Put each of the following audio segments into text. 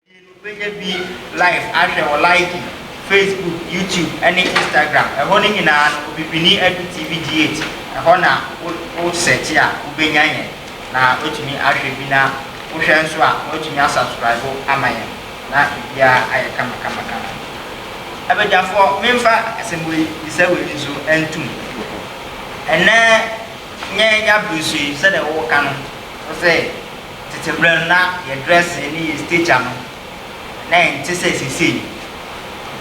Afei no wobɛnya bi live ahwɛ wɔ Likee, Facebook, YouTube ɛne Instagram. Ɛhɔ no nyinaa no Obibini Adu TV G8 ɛhɔ na wo wo search a wobɛnya yɛn na woatumi ahwɛ bi na wohwɛ nso a na woatumi a subscribe ama yɛn na biribiara ayɛ kama kama kama. Abadwafoɔ menfa asɛm wei bisa wei nso ntom. Ɛnnɛ nyɛ yɛabere so yi sɛdeɛ woka no wo se. Tsetse ber no na yɛ dressing nye yɛ stature no na nntse sɛ sesei.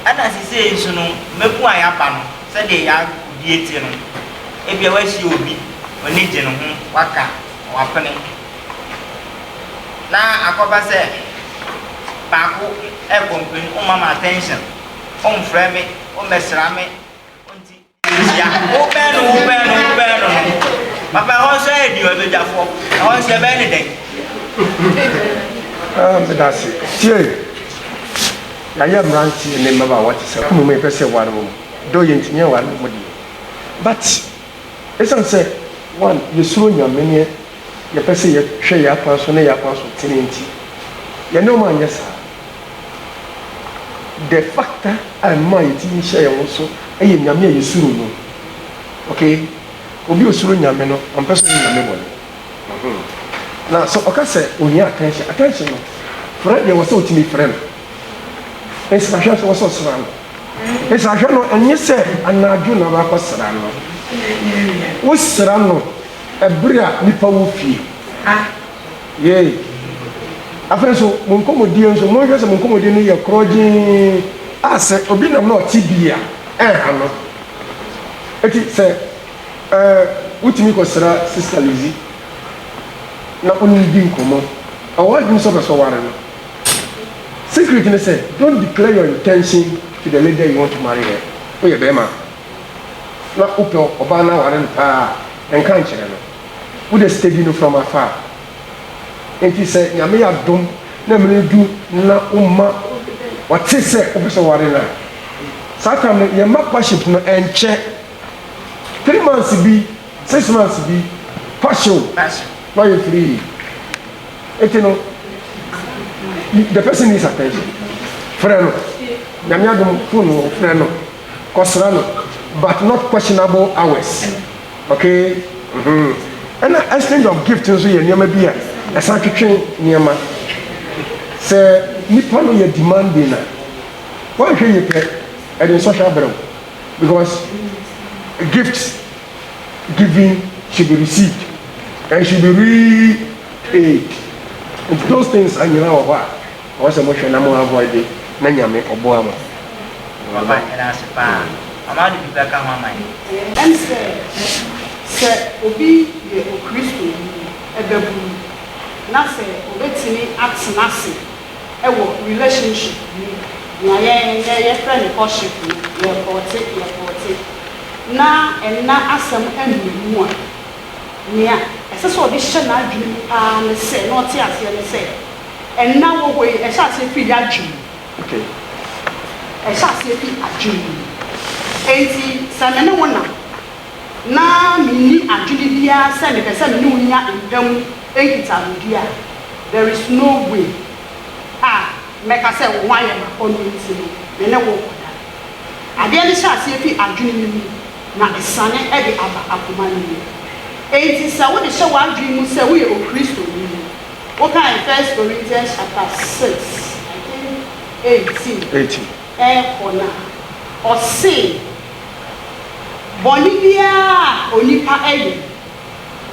Nna sesei so no mbamu a yɛaba no sɛdeɛ yɛabue tse no ebia woahyia obi w'ani gye no ho w'aka na w'apene na akɔba sɛ baako ɛrekɔ mprenu ommam attention, ommfrɛ me, ommɛsera me, onntsi. Hyia. Wobɛn no, wobɛn no, wobɛn no no. Papa, ɛhɔ nso ayɛ din o, abadwafoɔ. Ɛhɔ nso yɛbɛn ne dɛn? Ah, meda ase. Tie. Yɛayɛ mmeranteɛ ne mmabaawa te sɛ mmom yɛpɛ sɛ ware wɔn. Dɔ yɛntumi anware wɔn deɛ. But, ɛsiane sɛ, one, yɛsuro Nyame ne yɛpɛ sɛ yɛhwɛ yɛn akwan so ne yɛn akwan so tene nti, yɛne wɔn anyɛ saa. Deɛ fata a ɛma yɛn tiri hyɛ yɛn ho so yɛ Nyame a yɛsuro no. Okay, obi a ɔsuro Nyame no, ɔmpɛ sɛ ɔyɛ Nyame bɔne. Mm-hmm. Na sɛ ɔka sɛ ohia attention, attention no, frɛ deɛ ɛwɔ sɛ ɔtumi frɛ no. Nsrahwɛ nso ɛwɔ sɛ ɔsra no. Nsrahwɛ no, ɛnyɛ sɛ anadwo na wakɔsra no. Wosra no ɛberɛ a nnipa wɔ fie. Yei. Afei nso, mo nkɔmmɔdie nso, monhwɛ sɛ mo nkɔmmɔdie no yɛ korɔgyee a sɛ obi nam na ɔte bi a, ɛnha no. Enti sɛ eh, wotumi kɔsra Sista Lizzie na wo ne no di nkɔmmɔ. Ɔwɔ adwene sɛ ɔpɛ sɛ ɔware no. Secret ne sɛ, don't declare your intention to the lady you want to marry her. Woyɛ barima a, na wopɛ ɔbaa no aware no paa a, nka nkyerɛ no. wo dɛ sika bi no fam afa a, ntsi sɛ Nyame yɛ adom na mber no du na wo mma ɔtse sɛ wopɛ sɛ ɔware no a, saa tam no yɛmma courtship no nkyɛ three months bi, six months bi, courtship na ɔyɛ free. Ntsi no the person needs attention, frɛ no, Nyame adom phone wɔ hɔ, frɛ no, kɔsera no but not questionable hours. Okay mm-hmm ɛna exchange of gift nso yɛ nneɛma bi a ɛsan twetwe nneɛma. Sɛ nipa no yɛ demanding a, wanhwɛ yie pɛ ɛde nsɔhwɛ abrɛ wo because gift giving should be received and should be re-paid. Nti those things nyinaa wɔ hɔ a. Ɔwɔ sɛ mo hwɛ na mo avoide na Nyame ɔboa mo. Papa yɛda ase paa Mama wode biribi aka ho ama yɛn. Ɛne sɛ, sɛ obi yɛ Okristoni babunu na sɛ obetumi atena ase wɔ relationship mu, nea yɛn nnɛ yɛfrɛ no courtship no, yɛrekɔɔte, yɛrekɔɔte, na ɛnna asɛm mmɛn mu a, nea ɛsɛ sɛ ɔde hyɛ n'adwene mu paa ne sɛ, na ɔte aseɛ ne sɛ, Nna wɔ hɔ yi, ɛhyɛ aseɛ firi y'adwene mu. Okay. Ɛhyɛ aseɛ firi adwene mu. Enti sɛ me ne wo nam, na menni adwene biara sɛ mepɛ sɛ me ne wo nya mpa mu nkitahodie a, there is no way a mɛka sɛ wo ho ayɛ me akɔnnɔ nti no, me ne wo nkɔda. Adeɛ no hyɛ aseɛ firi adwene no mu, na ɛsane de aba akoma no mu. Enti sɛ wode hyɛ w'adwene mu sɛ woyɛ Okristoni Wokan First Corinthians chapter six, I think eighteen, Eighteen. ɛɛkɔ no a, ɔse, Bɔne biara a onipa yɛ,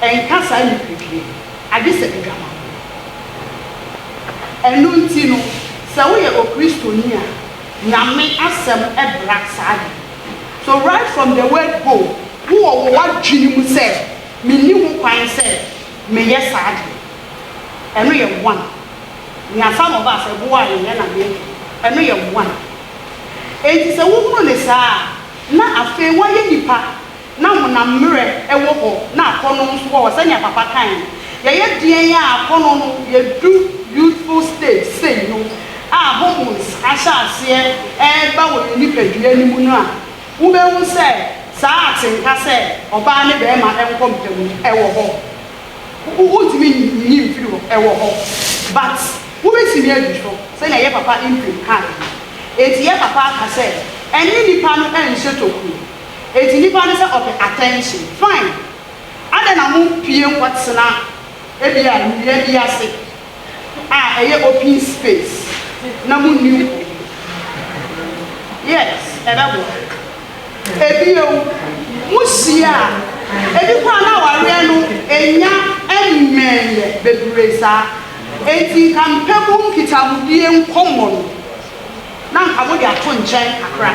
ɛnka saa nipadua yi, agye sɛ adwamammɔ. Ɛno nti no, sɛ woyɛ Okristoni a, Nyame asɛm bra saa de no. So right from the word go, wowɔ wo w'adwene mu sɛ, Menni ho kwan sɛ. meyɛ saa deɛ. Ɛno yɛ one. Na some of us ɛboɔ a yɛyɛ na meyɛ deɛ. Ɛno yɛ one. Enti sɛ wohunu no saa a, na afei woayɛ nipa na honam mmerɛ wɔ hɔ na akɔnnɔ nso wɔ hɔ sɛdeɛ papa kaeɛ no. Yɛyɛ deɛn a akɔnnɔ no, yɛdu youthful stage sei no a hormones ahyɛ aseɛ reba wɔ yɛn nipadua no mu no a, Wubehu sɛ saa atenka sɛ ɔbaa ne barima nkɔ mpam no, ɛwɔ hɔ. Wuntumi nyi mfiri hɔ, ɛwɔ hɔ. But, wubetumi adi so, sɛnea yɛn papa Imprim kae no. Enti yɛn papa aka sɛ, Ɛnne nnipa no nhyɛ tokuro. Enti nnipa no sɛ ɔpɛ attention. Fine. Adɛn na mompue nkɔtena ebia nnua bi ase? a ɛyɛ open space na mo nni ho yi. Yes, ɛbɛboa. Ebio, mo hyia a, ebi koraa na awareɛ no nnya mmɛnyɛ bebree saa, enti nka mpɛ mu nkitahodie nkɔmmɔ no na nka mode ato nkyɛn kakra.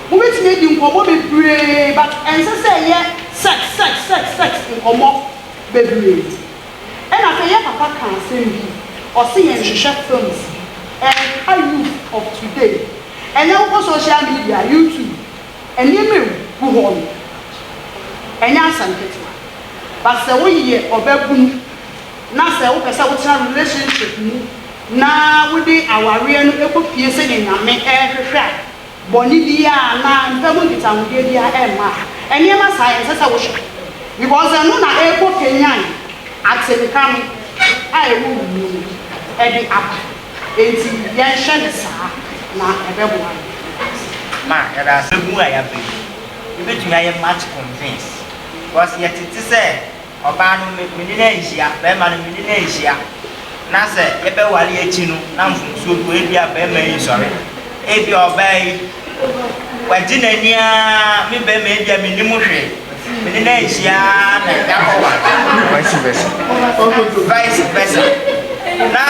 Mobɛtumi adi nkɔmmɔ bebree but ɛnsɛ sɛ ɛyɛ sex sex sex sex nkɔmmɔ bebree. Ɛna afei yɛ papa ka asɛm bi ɔse yɛn hwehwɛ films ɛnka youth of today ɛnɛ wokɔ social media YouTube nneɛma ɛgu hɔ no ɛnyɛ asɛm ketewa but sɛ woyɛ ɔbabunu na sɛ wopɛ sɛ wotena relationship mu na wode awareɛ no kɔ fie sɛdeɛ Nyame ɛhwehwɛ a bɔne biara anaa mpa mu nkitahodie biara ɛmma a, nneɛma saa ɛnsɛ sɛ wohwɛ because ɛno na ɛrekɔ kanyan atenka no a ɛwɔ wo mu no ɛde aba. Ɛnti yɛnhwɛ no saa na ɛbɛboa yɛn. Yɛda ase. Ma yɛda ase mu a yɛaba yi yɛbɛtumi ayɛ much convince because yɛtete sɛ Ɔbaa no me me ne no anhyia, barima no me ne no anhyia, na sɛ yɛbɛware akyi no na mfomsoɔ bi wɔ hɔ, ebia barima yi nsɔre, ebia ɔbaa yi wagye n'ani ara, me barima yi deɛ mennim hwee, me ne no anhyia na yɛakɔware. Vice versa. Vice versa. Na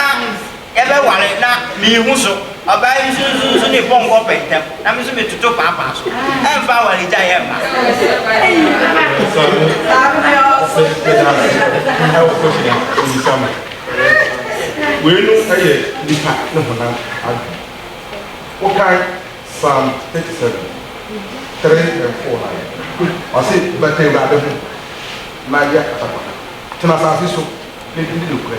Yɛbɛware na menhu so. Ɔbaa yi nso nso nso ne pɔnkɔ pɛ ntɛm na me nso metoto paapaa so. Ɛmfa awaregyaeɛ ɛmma. Weinom yɛ nnipa ne honam adwene. Wokae Psalm 37, 3 and 4 no a, ɔse, Bɛka Awurade ho na yɛ atakwatam, tena asase so na di ne nokorɛ.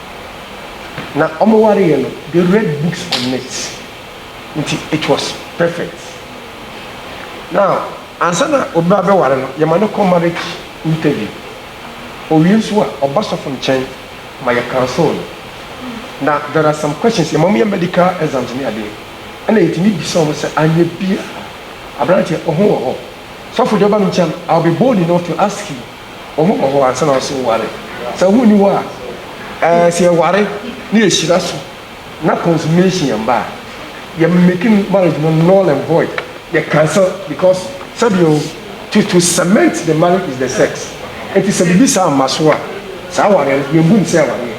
na ɔmo wareɛ no they read books on it nti it was perfect now ansa na obi abɛware no yɛma no kɔ marriage interview owie nso a ɔba sɔfo nkyɛn ma yɛ counsel no na there are some questions yɛma ɔmo yɛ medical exams ne adeɛ ɛna yɛtumi bisa ɔmo sɛ anyɛ bia aberanteɛ ɔho wɔ hɔ sɔfo deɛ ɔba me nkyɛn I will be bold enough to ask you Ɔho kɔ hɔ ansa na ɔse wo ware. Sɛ ɔho nni hɔ a, ɛɛ sɛ yɛ ware na yɛ hyira so na consummation ɛmba a, yɛ make marriage no null and void, yɛ cancel because sɛdeɛ o, to to cement the marriage is the sex. Nti sɛ biribi saa mma so a, saa ware no yɛ mbu no sɛ awareɛ,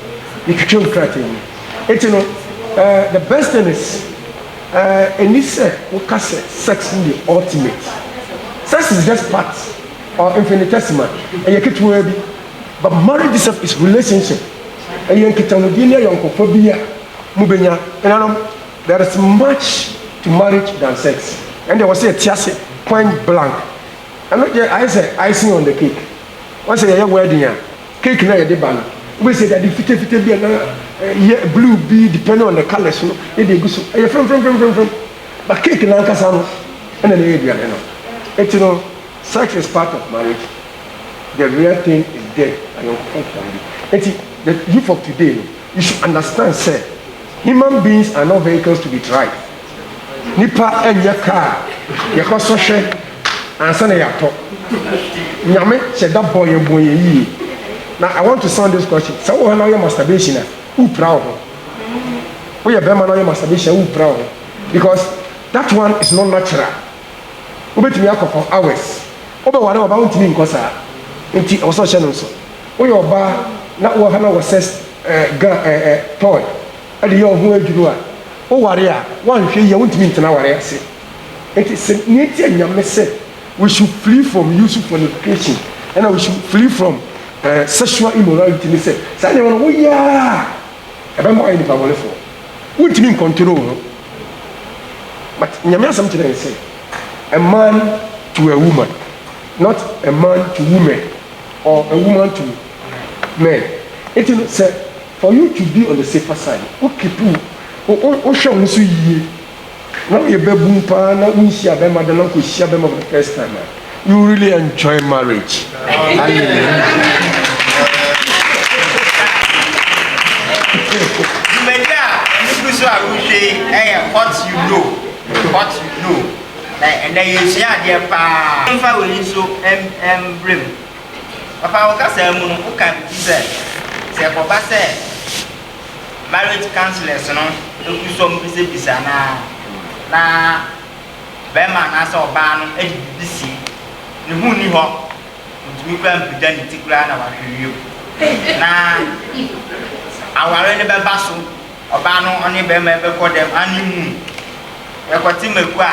yɛ twitwa mu krataa mu. Nti no ɛɛ the best thing is ɛɛ ɛnni sɛ wo ka sɛ sex no yɛ ultimate. Sex is just part. or infinitesima, ɛyɛ ketewaa bi. But marriage itself is relationship, ɛyɛ nkitahodie ne ayɔnkofa bi a mobɛnya. Henanom, there is much to marriage than sex. Ɛno deɛ ɛwɔ sɛ yɛte ase point blank. Ɛno deɛ ayɛ sɛ icing on the cake. Wɔn sɛ yɛyɛ wedding a, cake no a yɛde ba no, wobɛhu sɛ yɛde ade fitafita bi anaa yɛ blue bi depending on the colours no na yɛde agu so. Ɛyɛ frɛmfrɛmfrɛmfrɛm. But cake no ankasa no, ɛna na ɛyɛ aduane no. Enti no, Sex is part of marriage the real thing is dead ayɔnkofa ntoan bi nti the youth of today no you should understand sɛ human beings are not vehicles to be tried nipa ɛnyɛ kaa yɛkɔ sɔ hwɛ ansa na yɛatɔ nyame hyɛ da bɔ yɛn bɔ yɛn yie na i want to sound this question sɛ wowɔ hɔ na woyɛ masturbation a wopira wo ho woyɛ bɛrima na woyɛ masturbation a wopira wo ho because that one is not natural wobɛtumi akɔ for hours, wobɛware ɔbaa wontumi nkɔ saa nti ɛwɔ sɛ ɔhyɛ no nso woyɛ ɔbaa na woha no wɔ sex gun toy de yɛ ɔho adwuru a woware a woanhwɛ yie a wontumi ntena aware ase nti sɛ nea nti a nyame sɛ we should flee from use fornication ɛna we should flee from sexual immorality ne sɛ saa nneɛma no woyɛ a. ɛbɛma woayɛ nipa bɔnefo. Wontumi nkɔntoro wo ho. But Nyame asɛm kyerɛ yɛn sɛ, a man to a woman, not a man to women or a woman to men. Nti no sɛ for you to be on the safer side, wo keep wo, wo, wo, wohwɛ wo ho so yie. na woyɛ babun paa na wonhyia bɛrima da na wokɔhyia bɛrima for the first time a you really enjoy marriage dwumadi a nugu so a wohwɛ yi ɛyɛ what you know what you know na ɛnɛ yɛsua adeɛ paa mfa w'ani so mbrɛ mu papa wo kasa mu no woka biribi sɛ sɛ ɛkɔba sɛ marriage counsellors no gu so a wɔbisabisa no ara na barima anaasɛ ɔbaa no de biribi si ne ho nni hɔ, ɔntumi koraa mpagya ne ti koraa na wahwɛ wiem. Na aware no bɛba so, ɔbaa no ɔne barima yi bɛkɔ dɛm honeymoon, yɛkɔte mako a,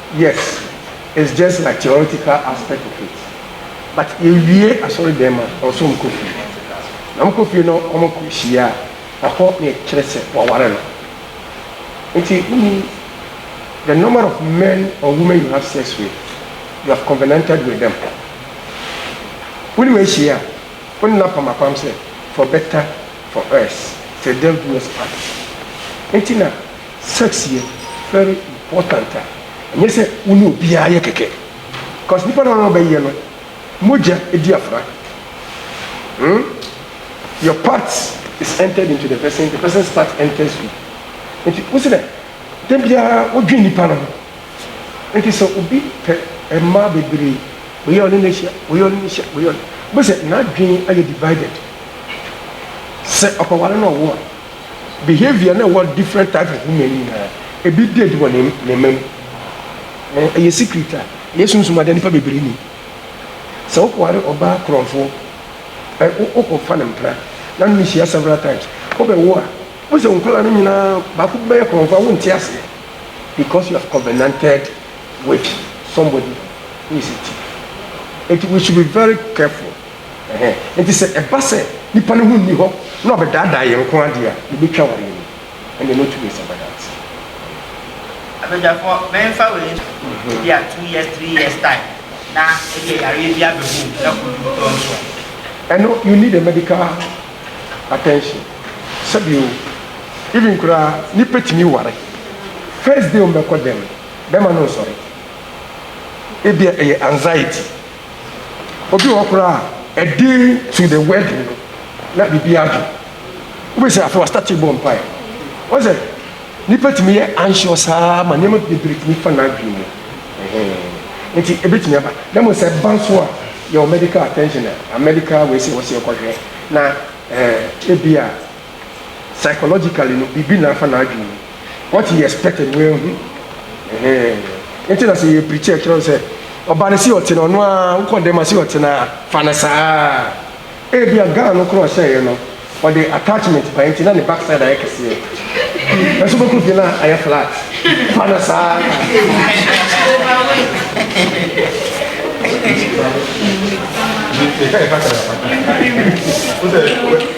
Yes it's just like theoretical aspect of it but yɛwie asɔre dɛm a ɛwɔ sɛ ɔmo kɔ fie na ɔmo kɔ fie no ɔmo kɔ hyia a na hɔ na ɛkyerɛ sɛ waware no nti wonim the number of men or women you have sex with you have covenanted with them wonim ahyia a wone no apam apam sɛ for better for us sɛ death do us part nti na Sex yɛ very important a ɛnyɛ sɛ wo ne obiara yɛ kɛkɛ cause nipa no a ɔbɛ yɛ no mogya di afra hmm your part is entered into the person the person's part enters you nti wo se dɛ da biara wo dwen nipa no ho nti sɛ obi pɛ mmaa bebree wei a ɔne no ahyia wei a ɔne no ahyia wei a ɔne wo bɛ sɛ n'adwen ayɛ divided sɛ ɔpɛ ware na ɔwo a. Behaviour na ɛwɔ different type of women nyinaa, ebi did wɔ ne ne mma mu. Ɛɛ ɛyɛ secret a ɛyɛ sunsum adeɛ nipa bebree nim. Sɛ wokɔware ɔbaa korɔmfoɔ, ɛ wo wokɔfa ne mpena na ne no hyia several times, wobɛwo a, wohu sɛ wo nkwadaa no nyinaa baako bɛyɛ korɔmfoɔ a wonte aseɛ because you have covenanted with somebody who is a thief. Nti we should be very careful. Enti sɛ ɛba sɛ nipa no ho nni hɔ na ɔbɛdaadaa yɛn nko ara deɛ a, yɛbɛtwa awareɛ no, ɛnneɛ na ɔtumi nsa ba dance. Abadwafoɔ, mɛmfa wei nto wo, ebia two years, three years time, na ebia yareɛ bi abɛbɔ wo mu na kɔdu wo dɔn so a. Ɛno, you need a medical attention. Sɛbi o, even koraa nipa tumi ware, first day a wɔbɛkɔ dɛm no, bɛrima no nsɔre, ebia ɛyɛ anxiety. Obi wɔ hɔ koraa a, ɛde to the wedding no, na biribi adwo. Wobɛsi afei wastate bɔ mpae. Wɔn sɛ, nipa tumi yɛ anxious saa ma nneɛma bebree tumi fa n'adwene mu. Nti ebetumi aba. Na mmom sɛ ɛba nso a, yɛwɔ medical attention a, medical wei sɛ wɔsɛ yɛkɔhwɛ na ebi a. Psychologically no biribi na afa n'adwene mu. What he expected no wanhu. Ɛhɛn. Nti na sɛ yɛ preach a ɛkyerɛ sɛ ɔba no si ɔte no ɔno ara wokɔ dɛm a si ɔte no ara fa no saa ara. Ebi a gown no koro a ɔhyɛeɛ no ɔde attachment baeɛ nti na ne back side ayɛ kɛseɛ. Nanso bɛkɔ fie na ayɛ flat. Fa no saa ara.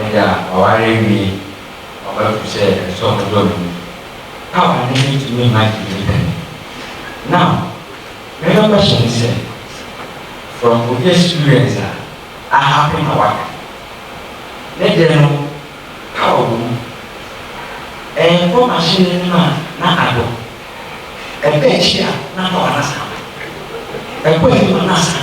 ɛda ɔware awie ɔba fi sɛ ɛsɔ no dɔ no mu a ɔne no tumi ma gye ne pɛ no. Now, me no question ne sɛ, from obi experience a ahappen na waka ne deɛ no, ka wɔ mu, ɛnkɔ machine no anim a na adɔ, ɛba akyi a na power no asan ba, ɛkɔ anim a na asan